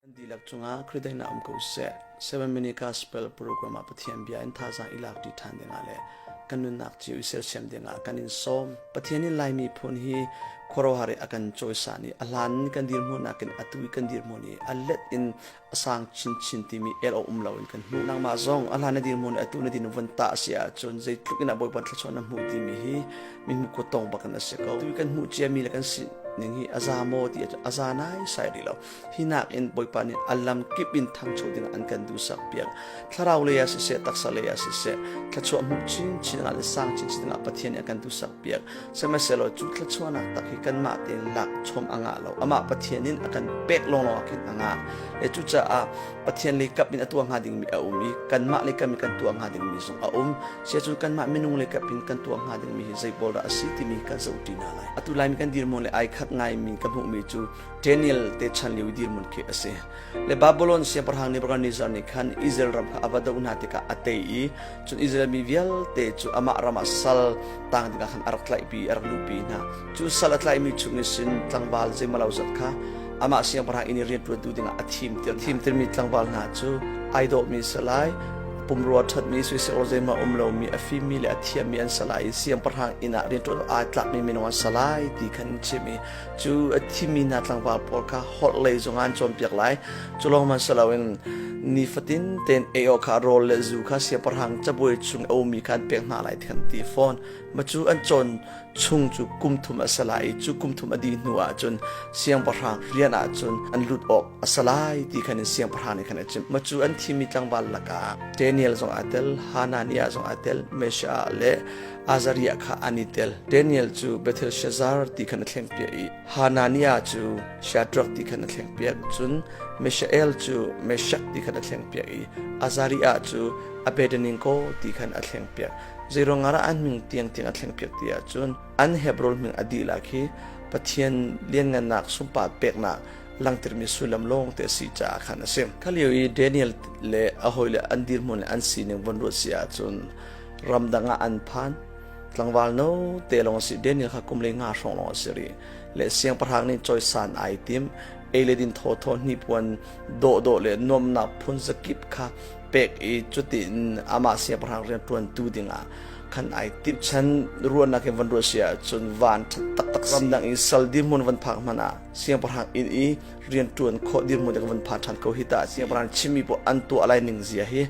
Kan dihlak cungah Khrihdah in um ko seh. 7 Minute Gospel program ah Pathian bia in thazaang i lak dih ṭhan dingah le kan nunnak cu i sersiam dingah kan in sawm. Pathian in Laimi phun hi khuarohar i a kan cawisan i a hlan in kan dirhmunnak in atu i kan dirhmun i a let in a sang chinchin timi el awk um loin kan hmuh. Nangmah zong a hlan na dirhmun i atu na din vun ta a si ahcun zeitluk in a bawiban thlachuan na hmuh timi hi mi hmu kut tong bak in a si ko. Tu kan hmuh ciami le kan si ning hi a za maw ti a za nai sai rih lo. hi nakin Bawipa nih a lam kip in thangcho dingah an kan duhsak piak thlarau lei ah siseh taksa lei ah siseh thluachuah hmuh chinchin dingah le sang chinchin dingah Pathian nih a kan duhsak piak sihmanhsehlaw cu thluachuahnak tak hi kanmah tein lak chom a ngah lo amah Pathian in a kan pek lawnglawng ah khin a ngah e cucaah Pathian le kap in a tua hnga dingmi a um i kanmah le kap in kan tua hnga dingmi zong a um sia cu kanmah minung le kap in kan tua hnga dingmi hi zei boldah a si timi kan zohṭi hna lai atu lai mi kan dirmun le ai khat ngai mi ka hmuhmi cu Daniel te chan liu dirmun khi asi le Babylon siaparhang Nebuchadnezzar nih khan Israel ram kha ava do hna tikah a tei i cun Israel mi vialte cu amah ram ah sal tang tikah khan a rak tlaihpi a rak luhpi hna cu sal a tlaihmi chungin sin tlangval zeimalo zat kha amah siangpahrang in i rianṭuantu dingah a thimter thimtermi tlangval hna cu ai dawhmi a si lai pumrua ṭhatmi soisel zeimah um lomi a fimmi le a thiammi an sa lai i siangpahrang inn ah rianṭuan aa tlakmi minung an sa lai ti khan in chim i cu a thimi hna tlangval pawl kha horhlei zong an cawnpiak lai cu lawng man si loin nifatin ten ei awk kha rawl le zu kha siaparhang cabuai chung a ummi kha an pek hna lai tihan ti fawn ma cu an cawn chung cu kum thum a si lai i cu kum thum a dih hnu ah cun siangpahrang rian ah cun an lut awk a si lai ti khan in siangpahrang nih khan a chim ma cu an thimi tlangval lakah Daniel zong aa tel Hananiah zong aa tel Mesha le Azariah kha an i tel. Daniel cu Bethel Shazar ti khan a thleng piak i Hananiah cu Shadrach ti khan a thleng piak. Cun Mishael cu Meshak ti khan a thleng piak i Azariah cu Abednego ti khan a thleng piak. Zeiruang ah dah an hming tiangtiang a thleng piak ti ahcun an Hebron hming a dihlak hi Pathian lianngannak sunpat peknak langhtermi sullam lawngte a si caah khan a si. Kha lio i Daniel le a hawile an dirhmun le an sining vun ruah si ahcun ramdang ah an phan tlangval no te long si daniel kha kum le nga shrong long si ri le siang parang ni choisan ai tim ei le din tho tho ni puan do do le nom na phun zakip kha pek i chuti in ama siang parang rian tuan tu dinga khan ai tip chan ruan na ke van ru sia chun van that tak tak ram dang in sal di mun van phak mana siang parang in i rian tuan kho di mun de van pha than ko hita siang parang chimi po an tu alai ning zia hi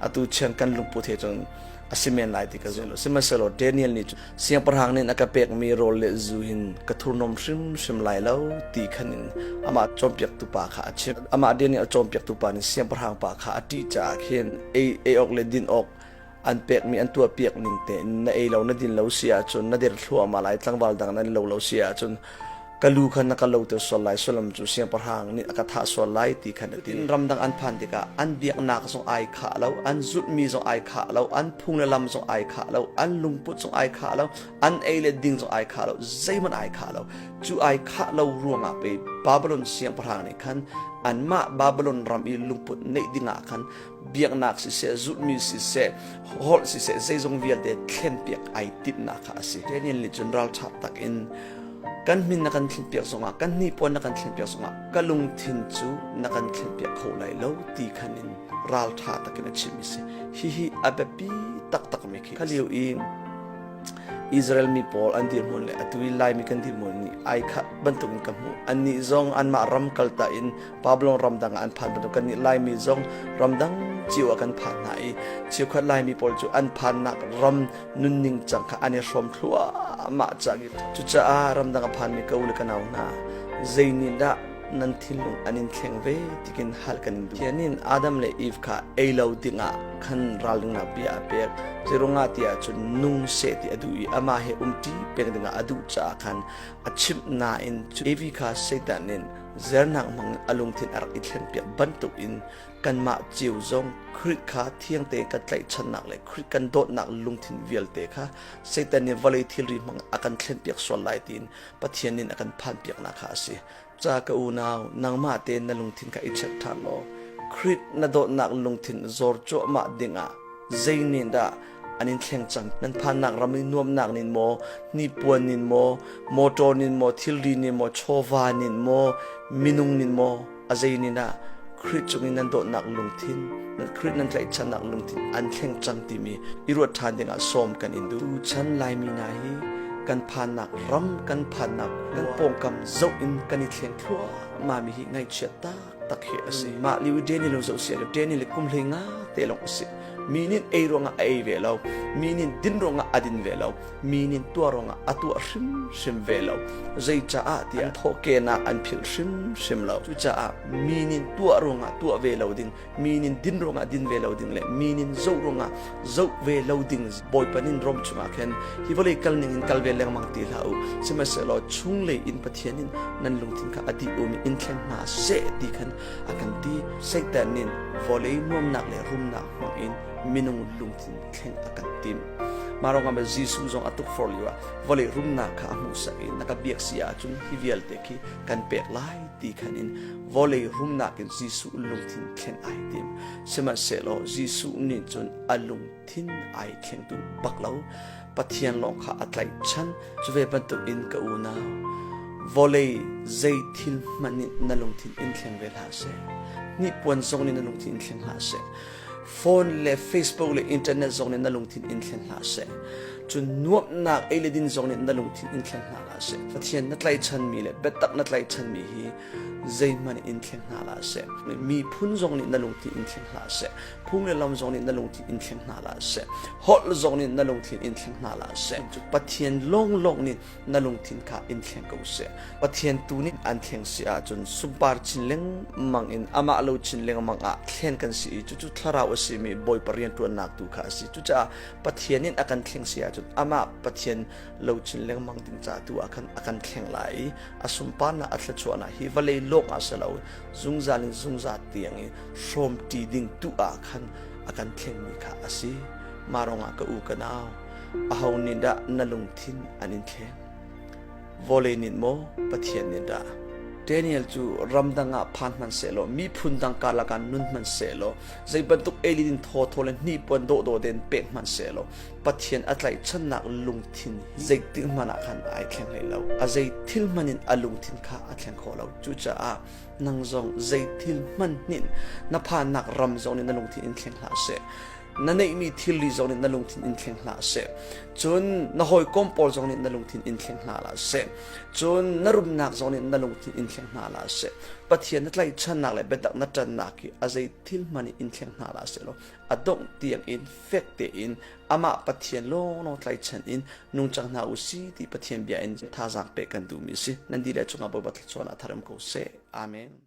atu chiang kan lungput he cun a si men lai ti ka zumh sihmanhsehlaw Daniel nih siangpahrang nih a ka pekmi rawl le zu hin ka thurhnawm hrimhrim lai lo ti khan in amah cawnpiaktu pa kha a chimh amah Daniel cawnpiaktu pa nih siangpahrang pa kha a ṭih caah khin ei ei awk le din awk an pekmi an tuah piak ning te na ei lo na din lo si ahcun na der thluahmah lai tlangval dang nan lo lo si ahcun ka lu kha na ka loter sual lai sullam cu siangpahrang nih a ka thah sual lai ti khan a ti in ramdang an phan tikah an biaknak zong ai khah lo an zulhmi zong ai khah lo an phung le lam zong ai khah lo an lungput zong ai khah lo an ei le ding zong ai khah lo zeihmanh ai khah lo cu ai khah lo ruangah pei babylon siangpahrang nih khan anmah babylon ram i lungput neih dingah khan biaknak siseh zulhmi siseh holh siseh zeizong vialte thlenpiak ai timhnak kha a si Daniel nih cun ralṭha tak in kan min na kan thlenpiak zongah kan hnipuan na kan thlenpiak zongah ka lungthin cu na kan thlenpiak kho lai lo ti khan in ralṭha takin a chim i si hihi a biapi taktakmi khi khaliu i Israel mi pawl an dirhmun le atu i Laimi kan dirhmun nih ai khat bantuk in ka hmu annih zong anmah ram kalta in Babylon ramdang ah an phan bantuk kannih Laimi zong ramdang cio ah kan phan hna i chiukhat Laimi pawl cu an phannak ram nunning cang kha an i hrawm thluahmah cang i cucaah ramdang a phanmi ka u le ka nau hna zeinihdah nan thinlung an in thleng ve tikin hal kan duh hianin adam le eve kha ei lo dingah khan ralringnak bia a pek cirungah ti ahcun nung seh ti a duh i amah he umṭi peng dingah a duh caah khan a chimh nain cu evi kha satan in Zernak hmang a lungthin a rak i thlen piak bantuk in kanmah cio zong Krit kha thiangte kan tlaihchannak le Krit kan dawtnak lungthin vialte kha Satan nih vawlei thilri hmang a kan thlen piak sual lai tiin Pathian nin a kan phan piaknak kha a si. Ca ka unau, nangmah te na lungthin kha i check ṭhan law Krit na dawtnak lungthin zawr cuahmah dingah zeinihdah an in thleng cang nan phannak ram in nuamnak nin maw hnipuan nin maw motor nin maw thilri nin maw chawva nin maw minung nin maw azei nin ah krit cung in nan dawtnak lungthin nan krit nan tlaihchannak lungthin an thleng cang timi i ruat ṭhan dingah sawm kan in du chan laimi na hi kan phannak ram kan phannak nan pawngkam zoh in kan i thleng thluah mami hi ngaihchiat ta tak hi a si mah liu deni lo zo sia deni le kum hlei nga te long si mi nin ei ruanga a ei ve lo mi nin din ruanga a din ve lo mi nin tua ruanga a tua hrim hrim ve lo zei cha a tia an phoke na an phil hrim hrim lo chu cha a mi nin tua ruanga tua ve lo ding mi nin din ruanga din ve lo ding le mi nin zo ruanga zoh ve lo ding bawipan in rom chungah khin hi vawlei kal ning in kal ve lengmang ti hlah u sihmanhsehlaw chung lei in pathian in nan lungthin kha a ti um in thlen hna seh ti khan a kan ti satan nin vawlei nuamnak le rumnak hmang in minung lungthin thleng a kan tim mah rongah ma jesuh zong a tuk for liu ah vawlei rumnak kha a hmuh sak in na ka biak si ahcun hi vialte khi kan pek lai ti khan in vawlei rumnak in jesuh lungthin thleng ai tim Sihmanhsehlaw Jesuh nih cun a lungthin ai thlengtu bak lo Pathian lawng kha a tlaihchan cu ve bantukin ka unau vawlei zei thil hmanh nih na lungthin in thleng ve hlah seh hnipuan zong nih na lungthin in thleng hlah seh phone le facebook le internet zong nih na lungthin in thleng hlah seh cu nuamhnak ei le din zong nih na lungthin in thleng hna hlah seh pathian na tlaihchanmi le biatak na tlaihchanmi hi zeihmanh in thleng hna la seh miphun zong nih na lungthin in thleng hna seh phung le lam zong nih na lungthin in thleng hna la seh holh zong nih na lungthin in thleng hna la seh pathian lawnglawng nih na lungthin kha in thleng ko seh pathian tu nih an thleng si ahcun sungpar chin lengmang in amah lo chin lengmang ah thlen kan si i cucu thlarau a simi bawi parian tuannak tu kha a si cucaah pathian in a kan thleng si ahcun amah pathian lo chin lengmang ding ca tu a kan a kan thleng lai i a sunparnak a thluachuahnak hi vale lawng ah silo zungzal in zungzal tiang i hrawm ṭi ding tu ah khan a kan thlengmi kha a si marong ah ka u ka nau aho nih dah na lungthin an in thleng vole nin mo pathian nin dah Daniel cu ramdang ah phan hman selaw miphun dang karlak ah nun hman selaw zei bantuk elidin tho tho le hnipuan do do den pe hman selaw Pathian a tlaihchannak lungthin hi zeitik hmanh ah khan ai thleng hlei lo. A zei thil hmanh in a lungthin kha a thleng khawh lo. Cucaah nang zong zei thil hmanhin na phannak ram zong nih na lungthin in thleng hlah seh. Na neihmi thilri zong nih na lungthin in thleng hlah seh. Cun na hawikom pawl zong nih na lungthin in thleng hna hlah seh. Cun na rumnak zong nih na lungthin in thleng hna hlah seh. Pathian na tlaihchannak le biatak na ṭannak hi a zei thil hmanh in thleng hna hlah seh law a dongh tiangin fek tein amah Pathian lawnglawng tlaichan in nungcang hna u si ti Pathian bia in thazaang pek kan duhmi a si nan di le cungah Bawipa thluachuan a tharum ko seh amen